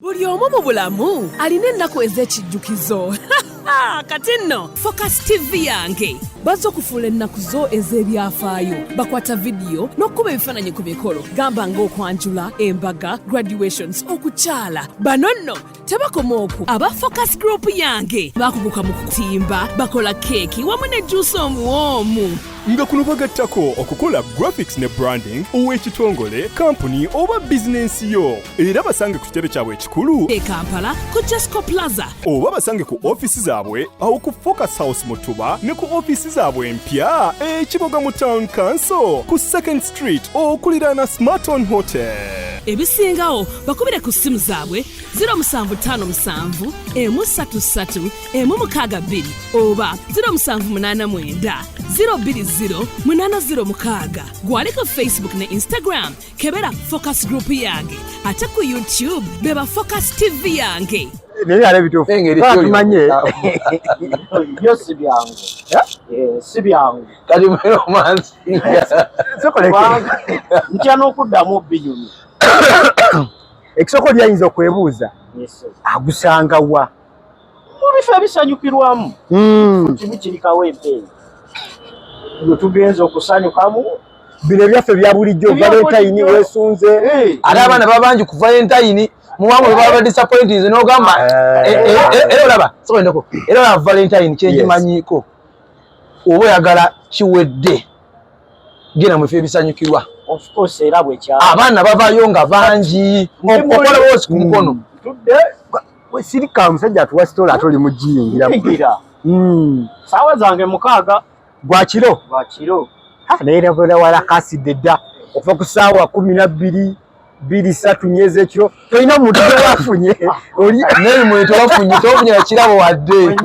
buli omu mu bulamu alina ennaku ez'ekijjukizo kati nno focus tv yange bazze okufuula ennaku zo ez'ebyafaayo bakwata vidiyo n'okukuba ebifaananyi ku mikolo gamba ng'okwanjula embaga graduations okukyala bano nno tebakoma oku aba focus group yange bakuguka mu kutimba bakola keeki wamu ne juusi omuwoomu nga kuno bagattako okukola graphics ne branding ow'ekitongole kampuni oba bizinensi yo era basange ku kitebe kyabwe ekikulu e kampala ku jasco plaza oba basange ku ofiisi zaabwe awo ku focus house mutuba ne ku ofiisi zaabwe empya ekiboga mu town council ku second street okuliraana smarton hotel ebisingawo bakubire ku ssimu zaabwe 0757 emu 33 emu mukaaga bbiri oba 0789 020 806 gwali ku facebook ne instagram kebera focus group yange ate ku youtube beba focus tv yange naye yala ebituufu tumanye byo si byangu si byangu kati mweromansi ntya n'okuddamu obinyumi ekisoko lyayinza okwebuuza agusanga wa mu bifo ebisanyukirwamu hmm. kimu kirikawo empeeyi gwe tugenza okusanyukamu bino ebyaffe bya bulijjo valentayini wesunze eh. ate abaana babangi ku valentayini muwamu webaba disappointinze nogamba eh. eh, eh, era olaba soendeko era olaba valentine kyenjimanyiko oba oyagala kiwedde genda mwefe ebisanyukirwa abaana bavayo nga bangi okolawoosi ku mukono mm. We sirika musajja atuwa story ate oli mujiyingira. Mukira. Mm. Sawa zange mukaaga. Gwa kiro. Gwa kiro. Ha naye nabula wala kasi deda. Okuva ku sawa 12 biri satu nyeze ekiro tolina muntu wafunye oli naye muntu wafunye tofunye kirabo wadde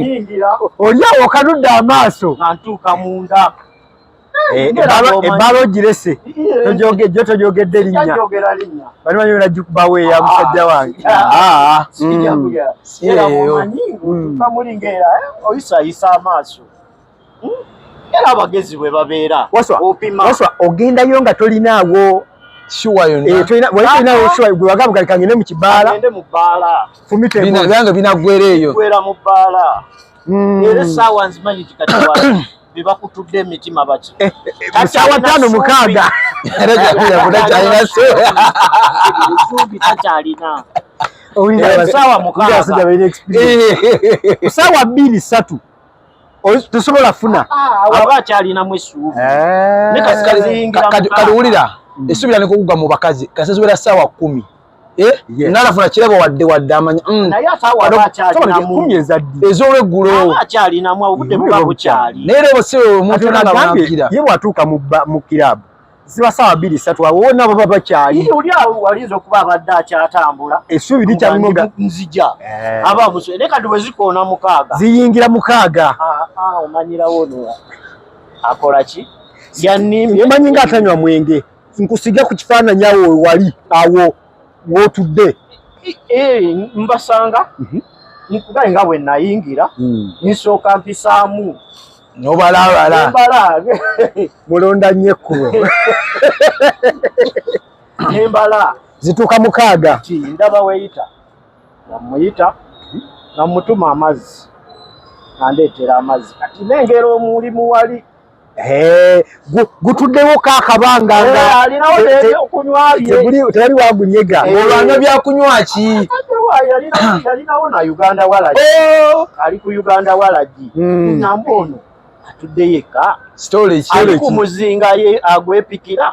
oli awo kanudde amaaso antuuka munda Eh, ebbaala ogirese jo togyogedde linnya bali manyi wena jukubawo eya ah, musajja wange ah, oyisayisa mm. mm. eh, amaaso hmm? era abagezi bwe babeera opimawaswa ogendayo nga tolinaawo siwayonagwewagabugalikangende eh, mu kibaala fumitebyange binagwera eyo era essaawa nzimanyi kikati bebakutudde emitima baki eh, eh, eh, sawa tano mukaaga suubi takyalina sawa mukaasawa bbiri satu tosobola funa ah, ah, aba akyalinamu esuubi kati wulira esuubira nekukugwa mu bakazi kasazibera sawa kumi Eh? nalafuna kirabo wadde wadde amanya mm. ezolweggulo naye lebo si omuntu nagagira ye bwatuuka mu kirabu ziba sawa biri satu awo nabo baba kyali yeye uli awo walizo kuba abadda kyatambula esubi licha munoga nzija eh. aba muso ne kadu weziko na mukaga ziyingira mukaga a ah, a ah, umanyira wono akola ki yanimye manyi ngatanywa mwenge nkusige ku kifaananyi awo wewali awo wotudde e, e, mbasanga mhm. nkuba nga bwe nayingira hmm. nsooka mpisaamu nobalabala mulonda nnyo ekkubo nembala zituuka mukaaga ti ndaba weyita namuyita mhm. namutuma amazzi nandeetera amazzi kati nengera omulimu wali gutuddewo ka akabanga tewali wagunyega olwanywa byakunywa ki yalinawo na uganda walagi oh! ali ku uganda walagi hmm. namba ono atudde yekka ali ku muzinga ye agwepikira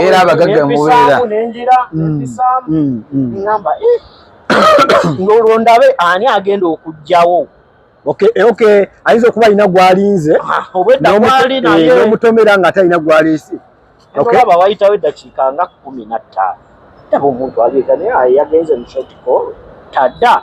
era abagagga mubeera ng'olwo ndabe ani agenda okugjawo okay eh, okay ayinza okuba alina gwalinze ah, obwedda gwali naye eh, omutomera nga atalina gwalisi okay baba wayitawo eddakiika nga kumi na ttaano taba omuntu aliega naye yagenze mu short call tadda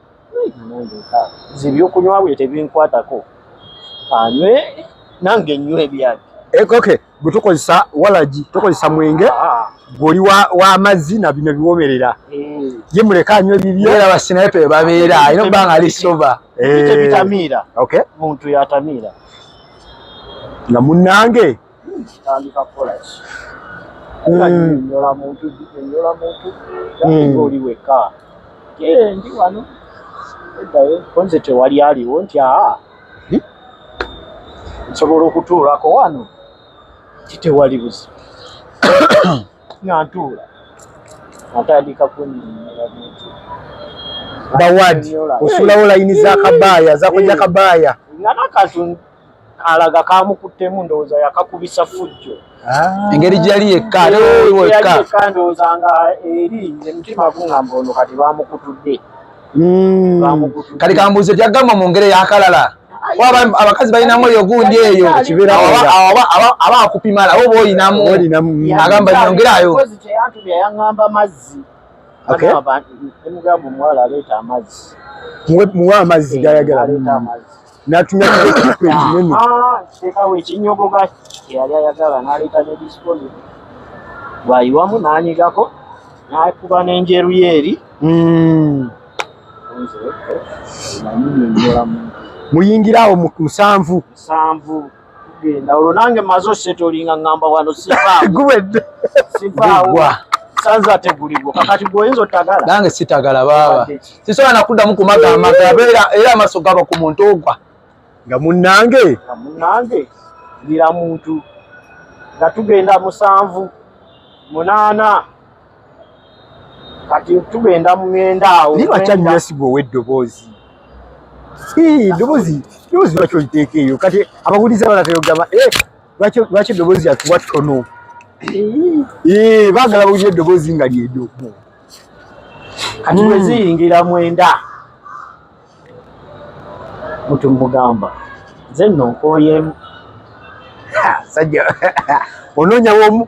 nze ebyokunywa bwe tebinkwatako anywe nange nywa ebyange eh, okay gwe tukozesa walagi tukozesa mwenge ah. gwoli w'amazzi na bino biwomerera eh. ye muleka anywa ebibyo era basinaye pe babeera alina okuba nga ali soba eh. bitamiira muntu yatamiira nga munnange kitandika kukola ki enyola hmm. muntu enyola muntu hmm. oli wekka ndi wano eddayo konze tewali aliwo nti aa hmm? nsobola okutuulako wano kitewali buzibu nga ntuula atandika kunyonyola muntu bawadi osulawo layini za kabaaya zakuja kabaaya nga nakatu alaga kamukuttemu ndowooza yakakubisa fujjo ah. engeri gyeyali yekka yekka ndowooza nga eri emitima gungamba ono kati bamukutudde hmm. kati kambuuze byagamba mu ngeri yakalala abakazi balinamu eyo gundi eyo aba akupimala oba olinamu agamba nyongerayo muwe amazzi gayagala natumya kinene ah, sekawo ekinyogoga yali ayagala naleeta ne disiponi bwayiwamu nanyigako nakuba n'enjeru ye eri hmm. muyingire awo musanvu genda olwo nange maze osetolinga ngamba wano sivaagwedde sivaagwa sanze ate guligwo kakati gwoyinza otagala nange sitagala baaba sisobola nakuddamu kumaga amaga abeera era amaso gaba ku muntu ogwa nga munnange nga munnange ndira muntu nga tugenda musanvu munaana kati tugenda mugenda awo naye lwaki anyesiga ow'eddoboozi eddoboozi eddoboozi lwaki oliteeka eyo kati abagulizi abala teyogamba eh, lwaki eddoboozi yatuwa ttono eh, baagala bawulira eddoboozi nga lyedo kati hmm. weziyingira mwenda mutu mugamba nze nno nkooyemu sajja onoonyawomu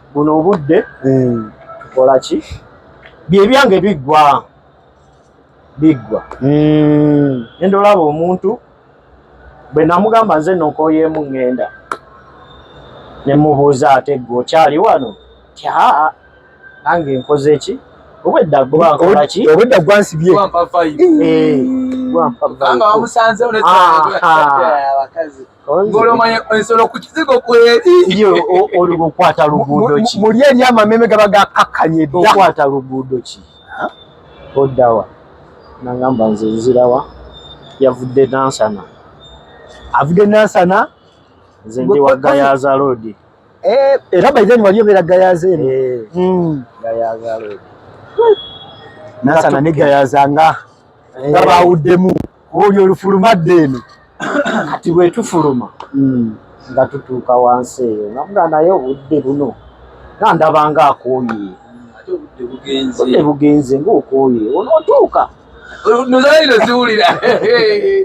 buno obudde hmm. kola ki byebyange biggwa biggwa hmm. enda olaba omuntu bwe namugamba nze nokoyeemu ŋŋenda ne mubuuza ate ggwe okyali wano tya nange nkoze ki obwedda gwankola ki obwedda gwansibye gwampa vibe eh, gwampa vibe ngolomanya ensolo ku kizigo kweri yo oliwo okwata luguudo ki muli eri amameme gaba gakakkanye dda okwata luguudo ki oddawa nangamba nze nzirawa yavudde nansana avudde nansana nze ndi wa gayaza loodi eh, era baideni wali obeera gayaza eno eh, hmm. gayaza loodi nansana ne gayaza nga eh. nga bawuddemu olyo olufulumadde eno kati bwetufuluma hmm. nga tutuuka wansi eyo nga muga naye obudde buno nga ndaba nga akooye obudde bugenze ngaokooye onootuuka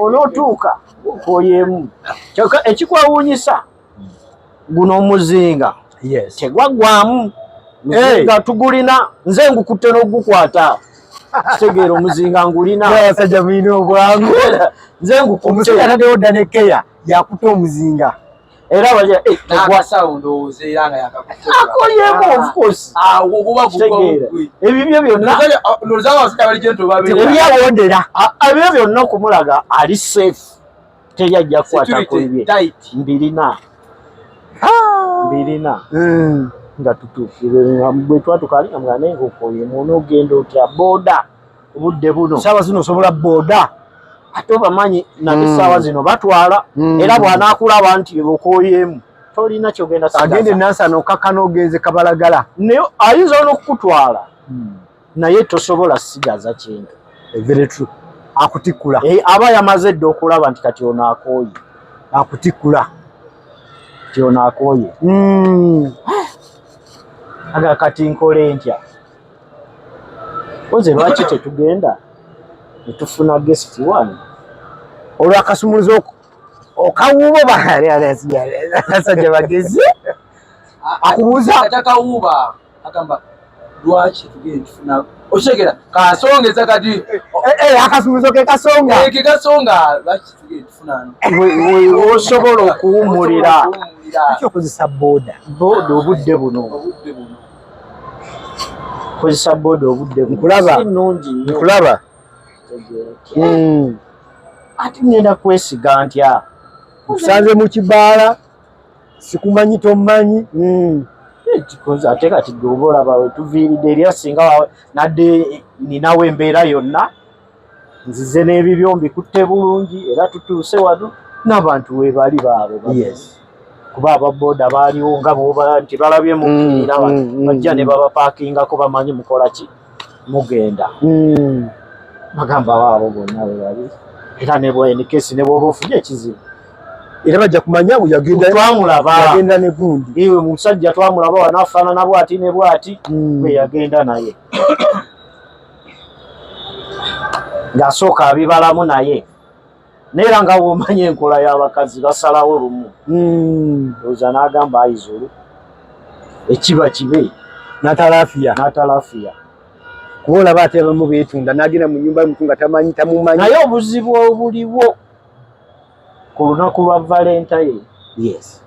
onootuuka okooyemu kyoka ekikwewuunyisa guno omuzinga tegwaggwamu muzinga tugulina nze ngukutte n'ogukwata kitegeera omuzinga ngulina abasajja mulina obwangu nze ngukuteatadewo dda nekeya yakuta omuzinga era ebibyo byonnaebyabyo byonna okumulaga ali safe teri ajja kukwata ku bibye mbirina ah! mbirina hmm. nga tutuukire bwe twatuka ali nga mwana enkoko ye muno ogenda otya booda obudde buno saawa zino osobola booda ate obamanyi nate hmm. saawa zino batwala hmm. era bwanaakulaba nti bebokoyeemu tolina kyogenda agende nansana okakana ogenze kabalagala naye ayinza olwokukutwala naye tosobola sigaza kintu very true akutikula e, eh, aba yamaze dda okulaba nti kati ono akooye akutikula ti ono akooye mm. aga kati nkole ntya oze lwaki tetugenda netufuna guest one olwakasumuluza oko okawuuba obaasajja bagezi akubuuza agamba lwaki tugenda tufuna okitegera kasongeza kati eh, eh, eh, akasuubizo ke kasonga ke kasonga lwaki tugenda tufuna osobola okuwumulira lwaki okozesa boda boda obudde buno obudde buno kozesa boda obudde nkulaba nkulaba hmm. ati ngenda kwesiga ntya nkusanze mu kibaala sikumanyi tomanyi hmm. eh, ate kati gweoba olaba wetuviiridde erya singa nadde ninawo embeera yonna nzize n'ebibyo mbikutte bulungi era tutuuse wano n'abantu webali baabo kuba ababoda baaliwo nga boba nti balabye mukiira mm, mm, mm, bajja ne babapakingako bamanyi mukola ki mugenda hmm. bagamba waabo bonna webali era nebwenikesi nebwoba ofunye ekizibu era bajja kumanya bweyagendayagenda negundi iwe musajja twamulaba wanafaanana bwati ne bwati hmm. bweyagenda naye ng'asooka abibalamu naye naye era nga bwomanyi enkola y'abakazi basalawo lumu hmm. oza n'agamba ayizulu ekiba kibe natalafiya natalafiya kuba olaba ate abamu beetunda n'agenda mu nyumba yomuntu nga tamanyi tamumanyi naye obuzibu obuliwo ku lunaku lwa valentine yes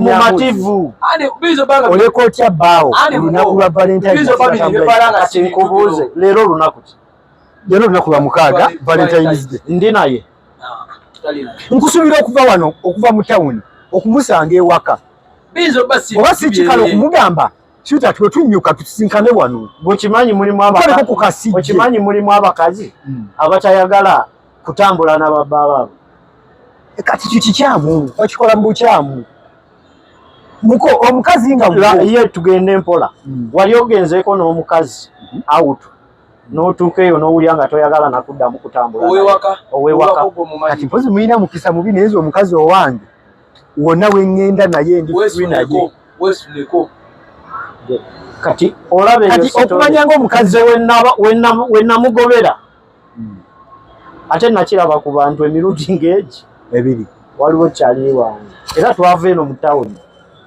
mumativu oleka otya baawo olunaku lwa valentinekinkubuuze leero olunaku ki leero olunaku lwa mukaaga valentines day ndi naye ah, nkusuubira okuva wano okuva mu tawuni okumusanga ewaka oba sikikala okumugamba kita twetunyuka tusinkane wano okimanyi mulimu abakazi hmm. abatayagala kutambula na babba baabwe e kati kikikyamu bakikola mu bukyamu muko omukazi nga ye tugende mpola hmm. wali ogenzeeko n'omukazi hmm. awutu n'otuuka eyo n'owulira nga toyagala nakuddamu kutambula owewaka kati mpozi mulina mukisa mubi naye nze omukazi owange wonna wengenda naye ndi naye kati olaba okumanya ngaomukazi wenamugobera hmm. ate nakiraba ku bantu emirundi ngaegi ebiri waliwo kyali wange era twava eno mu tawuni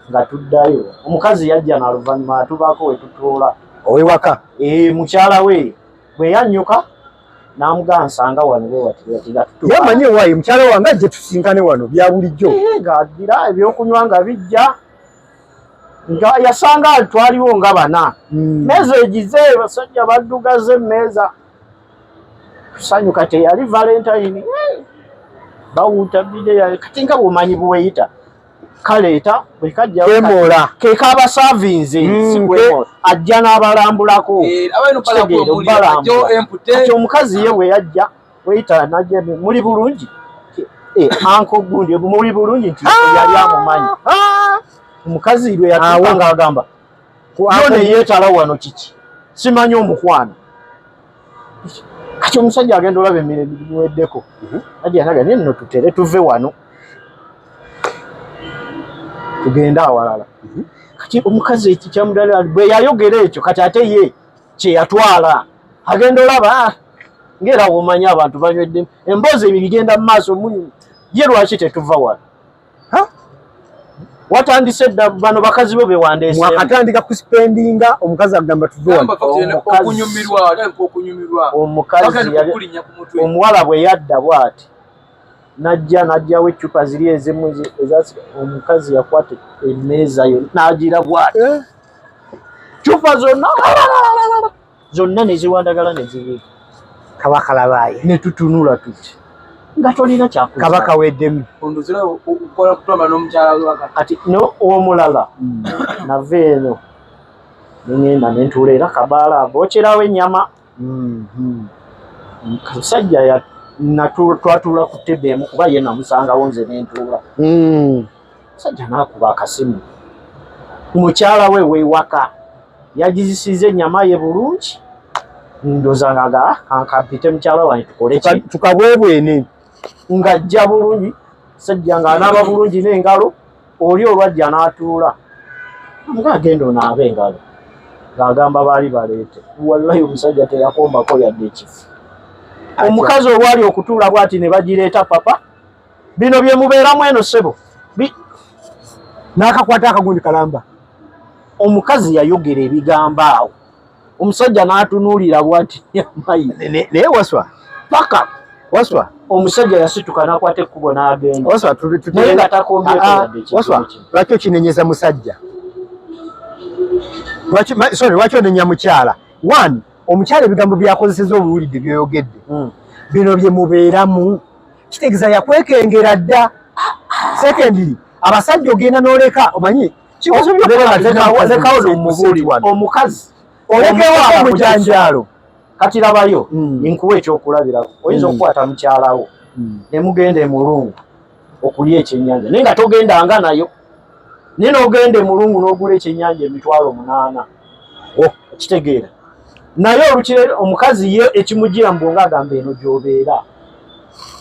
nga tuddayo omukazi yajja naluvannyuma atubaako wetutuula owewaka eh, mukyala we bwe yanyuka namugaa nsanga wano wewatiyamanyi ewaayi mukyala wange ajje tusinkane wano bya bulijjo eh, nga addira ebyokunywa nga bijja nga yasanga twaliwo nga bana hmm. meeza egize basajja baddugaza emmeeza kusanyuka teyali valentine bawuuta bideya kati nga bwomanyi buweyita kaleeta bwekajjakemoola kekaaba savinze hmm, sikwemola ajja n'abalambulako eh, kitegeera omukazi ye bwe yajja weyita naje muli bulungi eh, anko gundi muli bulungi nti ah! yali amumanyi ah! omukazi lwe yatuka ah, nga agamba yone yeetala wano kiki simanyi omukwano kati omusajja agenda olaba emire biweddeko mhm. ajanaga naye nno tutere tuve wano tugende awalala mhm. kati omukazi ekikyamudala bwe yayogera ekyo kati ate ye kyeyatwala agenda olaba ah, ngera womanya abantu banywedde emboozi ebyo bigenda mu maaso ye lwaki tetuva wano watandise dda bano bakazi bo bewandesemwakatandika kuspendinga omukazi agamba tuveomuwala bwe yadda bwati najja najjawo eccupa ziri ezimu omukazi yakwata emeeza yo nagira bwati eh? cupa zonna zonna neziwandagala nezibiika kabaka labaayi netutunula tuti nga tolina kyakabaka weddemu kati no omulala hmm. nava eno nengenda nentuula era kabaala bokyerawo ennyama Mm-hmm. Musajja ya twatuula ku tebe emu kuba ye namusangawo nze nentuula. Mm. Musajja nakuba akasimu. Mukyala we wewaka yagizisiza ennyama ye bulungi ndoza ngaga kankampite mukyala wange tukole ki tukabwebwene ng'ajja bulungi sajja ng'anaaba bulungi n'engalo oli olwajja n'atuula amuga agenda onaabe engalo ng'agamba baali baleete wallayi omusajja teyakombako yadde ekifu omukazi olwali okutuula bwati ne bagireeta papa bino bye mubeeramu eno ssebo n'akakwata akagundi kalamba omukazi yayogera ebigambo awo omusajja n'atunuulira bwati naye waswa paka waswa omusajja yasituka n'akwata ekkubo n'agenda waswa naye nga takombyewaaswa ah, ah, lwaki okinenyeza musajja sorry lwaki onenya mukyala one omukyala ebigambo byakozeseza obuwulidde byoyogedde hmm. bino bye mubeeramu kitegeeza yakwekengera dda ah, secondly abasajja ogenda n'oleka omanyi omukazi olekewo abamujanjaalo kati labayo hmm. nkuwa ekyokulabirako oyinza hmm. okukwata mukyalawo hmm. nemugenda emulungu okulya ekyenyanja naye nga togendanga nayo naye nogenda emulungu nogula ekyenyanja emitwalo munaana oh, kitegeera naye olukire omukazi ye ekimujira mbu nga agamba eno gyobeera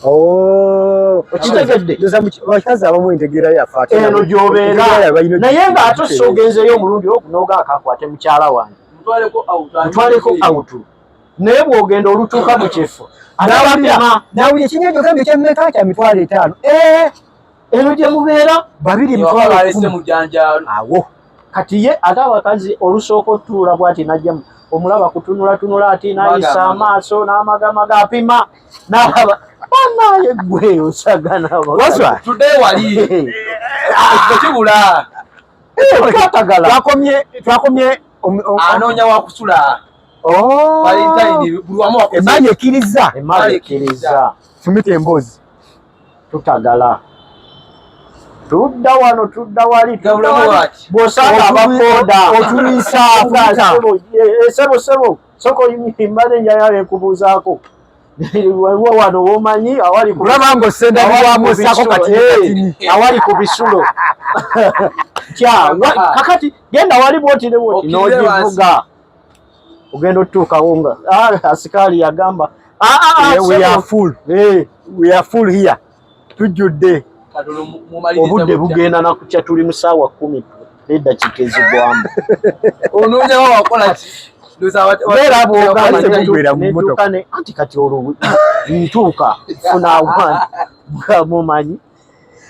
Oh. okitegeddeabakazi abamu entegeera yafaeno gyobeera naye nga ate ossa ogenzeeyo omulundi okunoga akakwate mukyala wange mutwaleko autu naye bwogenda olutuuka mu kifo nawuli ekinyo ekyogambye kyemmeka kya mitwalo etaano eh! eno gye mubeera babiri mitwalo awo kati ye ate abakazi olusooka otuula bwati najjamu omulaba kutunulatunula ati nayisa amaaso n'amagamaga apima nalaba banaye gwe osagana twakomye anoonya wakusula oh. valentine buli wamu wakuza emali ekiriza emali ekiriza fumita emboozi tutagala tudda wano tudda wali bwosanga abakoda otulisaasebo eh, sebo soko mbadde njayala ekubuuzaako waliwo wano womanyi awali kulaba nga osendawamusako kati eh, awali ku bisulo kya kakati genda wali bwotire bwoti nogivuga ogenda otutuukawo nga ah, asikaali yagamba ah, ah, eh, we are full eh, we are full here tujjudde obudde bugenda nakukya tuli mu saawa kumi n'eddakiika ezigwamu onoonyawo wakola ki anti kati olwo ntuuka funa awange mumanyi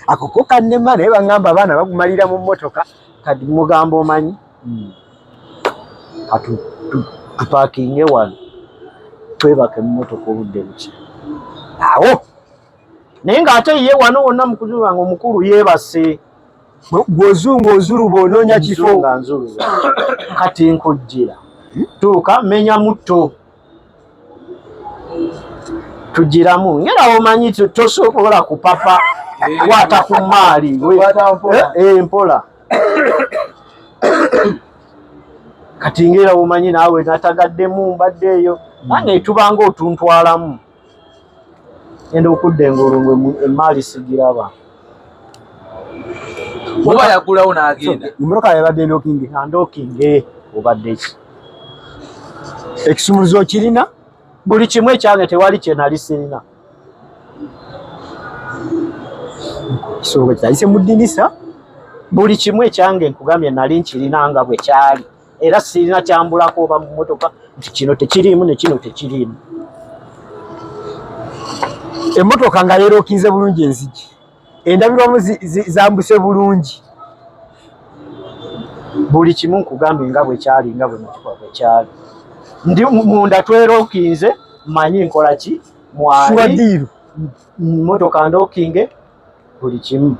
akukuka nema naye bangamba abaana bagumalira mu motoka kati mugambo omanyi hmm. atu tupakinge wano twebake mu motoka obudde buki awo naye nga ate ye wano wonna mukuzuba nga omukulu yebase gwozunga ozuluba ononya kifo kati nkujjira tuuka menya mutto tugiramu ngera omanyi tosobola kupapa eh. kwata ku maali eh, eh, mpola kati ngera omanyi naawe natagaddemu mbadde eyo nange tubanga otuntwalamu enda okudda engulu ngwe emaali sigiraba oba yagulawo nagenda emmotoka yabadde ndokinge andokinge obadde ki ekisumuluzo okirina buli kimu ekyange tewali kyenali sirina kisonga kitayise mu ddinisa buli kimu ekyange nkugambye nali nkirina nga bwe kyali era sirina kyambulako oba mu mmotoka nti kino tekiriimu ne kino tekiriimu emmotoka nga yeerookinze bulungi enzigi endabirwamu zambuse bulungi buli kimu nkugambye nga bwekyali nga bwe mutuka bwekyali ndi munda twerokinze manyi nkola ki mwaliiru motoka ndokinge buli kimu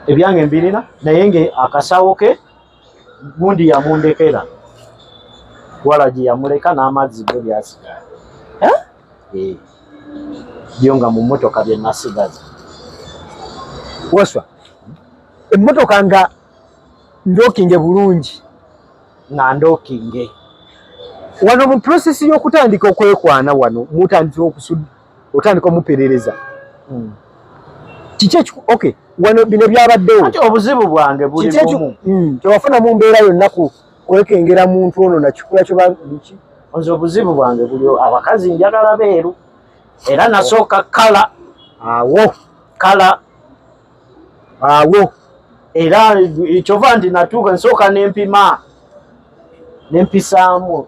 ebyange mbirina naye nga akasawo ke gundi yamundekera walagi yamuleka n'amazzi ge byasigala eh? byo nga mu mmotoka bye nasigaza waswa emmotoka nga ndokinge bulungi nga ndokinge wano mu prosesi y'okutandika okwekwana wano mutandika okusudda otandika omuperereza hmm. kiki ekiku okay wano bino byabaddewo ati obuzibu bwange buli bumu hmm. tewafuna mu mbeera yonna ku kwekengera muntu ono nakikula kyo biki nze obuzibu bwange buli abakazi njagala beeru era nasooka kala awo kala awo era kyova nti natuuka nsooka nempima nempisaamu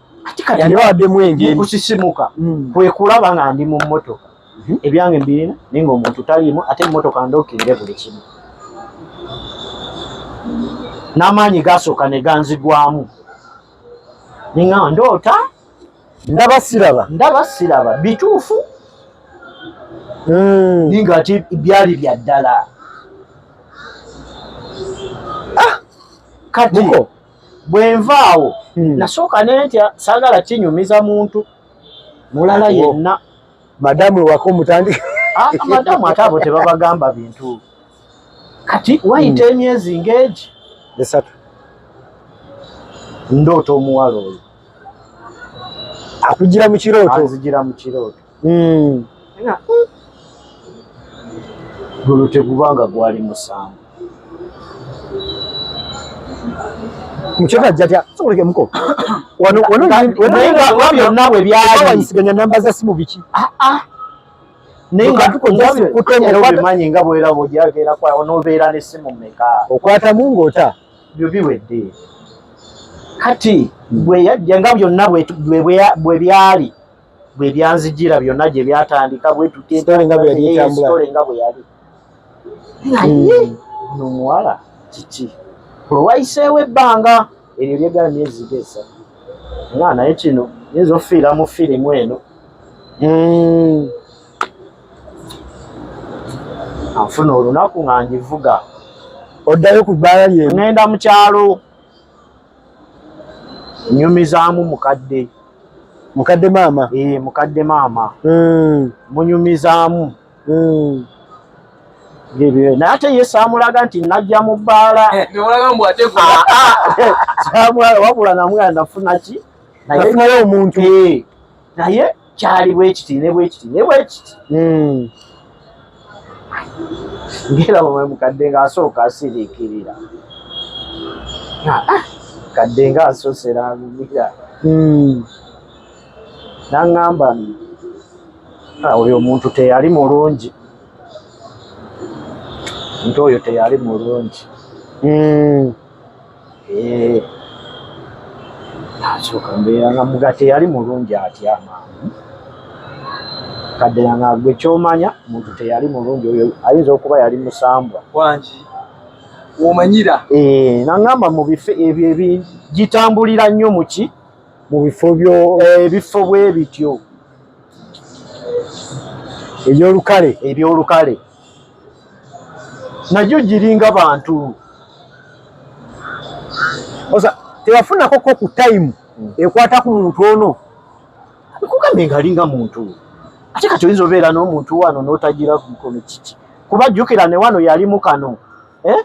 ati kati yali wadde mwenge kusisimuka mm. kwe kulaba nga ndi mu mmotoka mhm. ebyange mbirina naye nga omuntu taliimu ate emmotoka ndokirire buli kimu n'amaanyi gasooka ne ganzigwamu ninga ndoota ndaba siraba ndaba siraba bituufu mm. ninga ati byali bya ddala ah! kati bwenva awo hmm. nasooka nentya sagala kinyumiza muntu mulala yenna madamu ewaka omutandika ah, madamu ate abo tebabagamba bintu kati wayita hmm. emyezi ngaegi esatu ndoota omuwala oyo akugira mukirooto anzigira mukirooto Hmm. guno tegubanga gwali musango byonna bwe byalisiganya namba za simu biki ah, ah. nayeobimanyi nga bweraba ojabeera kwawo nobeera nesimu meka okwatamu ngaota byo biwedde kati bweyajja nga byonna bwe byali bwe byanzijira byonna gye byatandika bwe tuteetole nga bwe yali naye hmm. ono muwala kiki olwayiseewo ebbanga eryo lyegala myezi gesa nga naye kino yinza ofiira mu firimu eno hmm. anfuna olunaku nga ngivuga oddayo ku bbaala lyengenda mu kyalo nyumizaamu mukadde mukadde maama ee eh, mukadde maama hmm. munyumizaamu hmm. naye ate ye saamulaga nti najja mu bbaala eh, ah, ah. wabula namwana nafuna ki naye omuntu naye kyali bwekiti ne bwekiti ne bwekiti hmm. ngera bwe mukadde ng'asooka asiriikirira ah, ah, kadde ng'asosera ngumira hmm. nangamba ah, oyo omuntu teyali mulungi nti oyo teyali mulungi hmm. Eh, nasooka mbeera nga mugate yali mulungi atya amangu kaddera nga gwe kyomanya muntu teyali mulungi oyo ayinza okuba yali musambwa wangi womanyira eh, nangamba mu bifo ebyo ebigitambulira nnyo muki mu bifo byo eh, ebifo bwe bityo ebyolukale ebyolukale najo giringa bantu osa tewafunako ko ku time hmm. ekwata ku muntu ono kugambe ngalinga muntu ate kati oyinza obeera n'omuntu wano n'otagira kukono kiki kuba jjukira ne wano yali mu kano eh?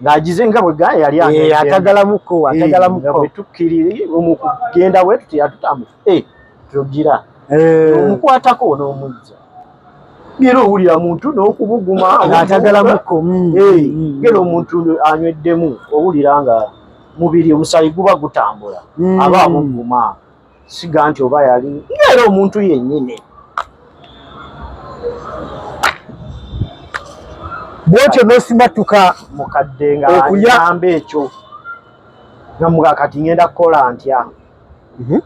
ng'agize nga bwe gaya yali eh, atagalamuko atagalamuko eh, bwe tukkirire omukugenda bwe tuti yatutamu eh tugira eh omukwatako onomujja ngera owulira muntu n'okubuguma ng'atagala mukomu mm. eh, mm. ngera omuntu anyweddemu owulira nga mubiri omusaayi guba gutambula mm. aba amuguma siga nti oba yali ngera omuntu yennyini bwotyo n'osimattuka mukadde ng'ayamba ekyo nga mugakati ngenda kukola ntya Mhm.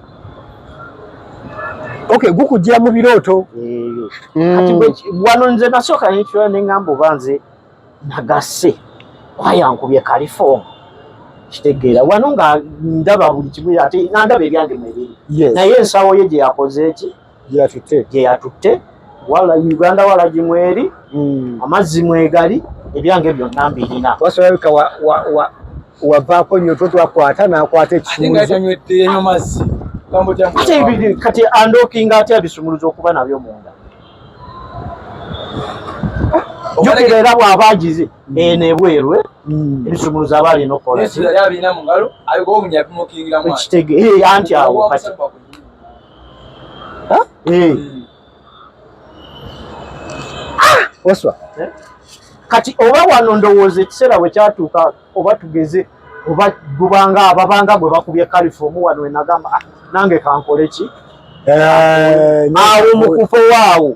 Okay, gukujira mu birooto. Eh. Kati mm. wano nze nasooka nekirala ne ngamba oba nze nagasse kwayankubye kalifoomu kitegeera wano nga ndaba buli kimu ate nga ndaba ebyange mwebiri naye ensawo ye gye yakoze eki gye yatutte wala uganda wala gimweri hmm. amazzi mwegali ebyange byonna mbirina wasolabika wavaako nyo to twakwata nakwata ekisumuluzo kati andokinga atya bisumuluzo okuba nabyo munda jukira era bw'aba agize mm. eno ebweru eh? mm. ebisumuluzo aba alina okukola anti awo kati Ha? Eh. Ah, waswa. Eh? Kati oba wano ndowooza ekiseera bwe kyatuuka oba tugeze oba gubanga ababanga gwe bakubye kalifomu wano enagamba ah, nange kankole ki eh, awo mu kufa waawo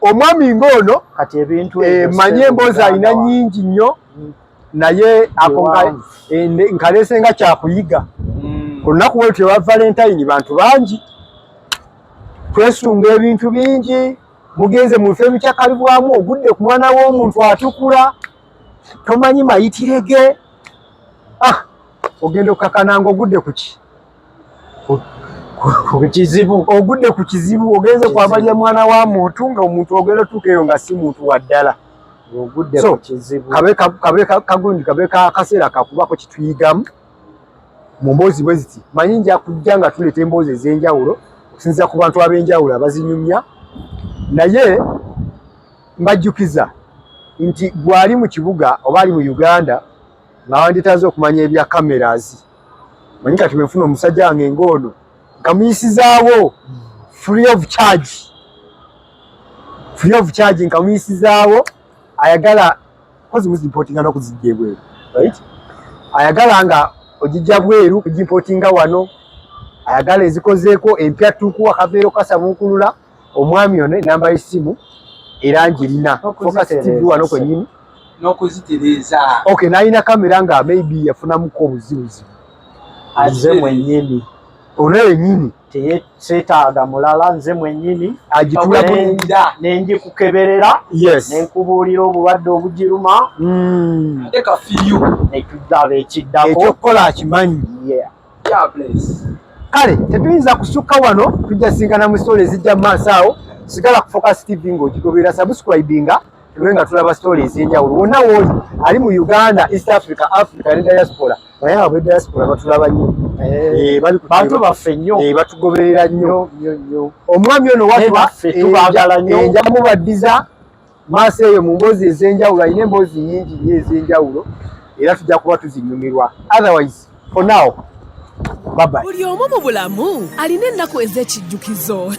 omwami ng'ono kati ebintu eh, manye emboozi alina nyingi nnyo mm. naye ako eh, nkalese nga kyakuyiga mm. olunaku bwe lutyo lwa valentine bantu bangi twesunga ebintu bingi mugenze mu bifo ebikyakalibwamu ogudde ku mwana w'omuntu atukula tomanyi mayitire ge ah, ogenda okukakana nga ogudde ku ki kukizibu ogudde ku kizibu ogenze kwabalya mwana wa muntu nga omuntu ogenda otuuka eyo nga si muntu wa ddala kagundi kabe kaseera kakubako kituyigamu mu mboozi bwe ziti manyi nja kujja nga tuleeta emboozi ez'enjawulo okusinzira ku bantu ab'enjawulo abazinyumya naye mbajjukiza nti gwali mu kibuga oba ali mu uganda nga wanditaze okumanya ebya cameras manyi kati bwefuna omusajja wange ngoono nkamuyisizaawo free of charge free of charge nkamuyisizaawo ayagala kozi muzimpotinga nokuzijja ebweru right ayagala nga ojijja bweru kujimpotinga wano ayagala ezikozeeko empya tukuwa kaveero kasabuukulula omwami ono enamba y'essimu era ngirina fokasitiddi wano kwenyini n'okuzitereeza ok nalina kamera nga maybe yafunamuko obuzibuzibu nze mwenyini ono yenyini teyeetaaga mulala nze mwenyini agitulaenda nengikukeberera nenkubuulira obulwadde obugiruma hmm. nekidaba ekiddako ekyokukola akimanyi kale tetuyinza kusukka wano tujjasinkana mu sitole ezijja mu maaso awo sigala ku focus tv ng'ogigoberera sabusikwibinga tube nga tulaba sitole ez'enjawulo wonna wooli ali mu uganda east africa africa ne diaspora naye abo diaspora batulaba nnyo eh, eh, bantu baffe nnyo eh, batugoberera nnyo omwami ono watuba enjamubaddiza maaso eyo mu mboozi ez'enjawulo alina emboozi nyingi nnyo ez'enjawulo era tujja kuba tuzinyumirwa otherwise for now babai buli omu mu bulamu alina ennaku ez'ekijjukizo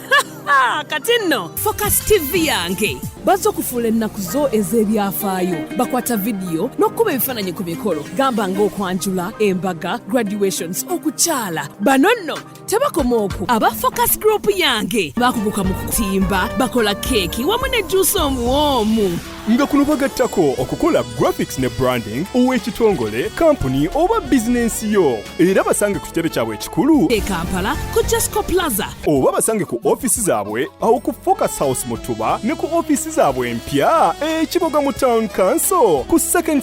kati nno focus tv yange bazze okufuula ennaku zo ez'ebyafaayo bakwata vidiyo n'okukuba ebifaananyi ku mikolo gamba ng'okwanjula embaga graduations okukyala bano nno tebakoma oku aba focus group yange bakuguka mu kutimba bakola keeki wamu ne juusi omuwoomu nga kuno bagattako okukola graphics ne branding ow'ekitongole kampuni oba bizinensi yo era basange ku kitebe kyabwe ekikulu e kampala ku jasco plaza oba basange ku ofisi zaabwe awo ku focus house mutuba ne ku ofisi zaabwe empya ekiboga mu town council ku second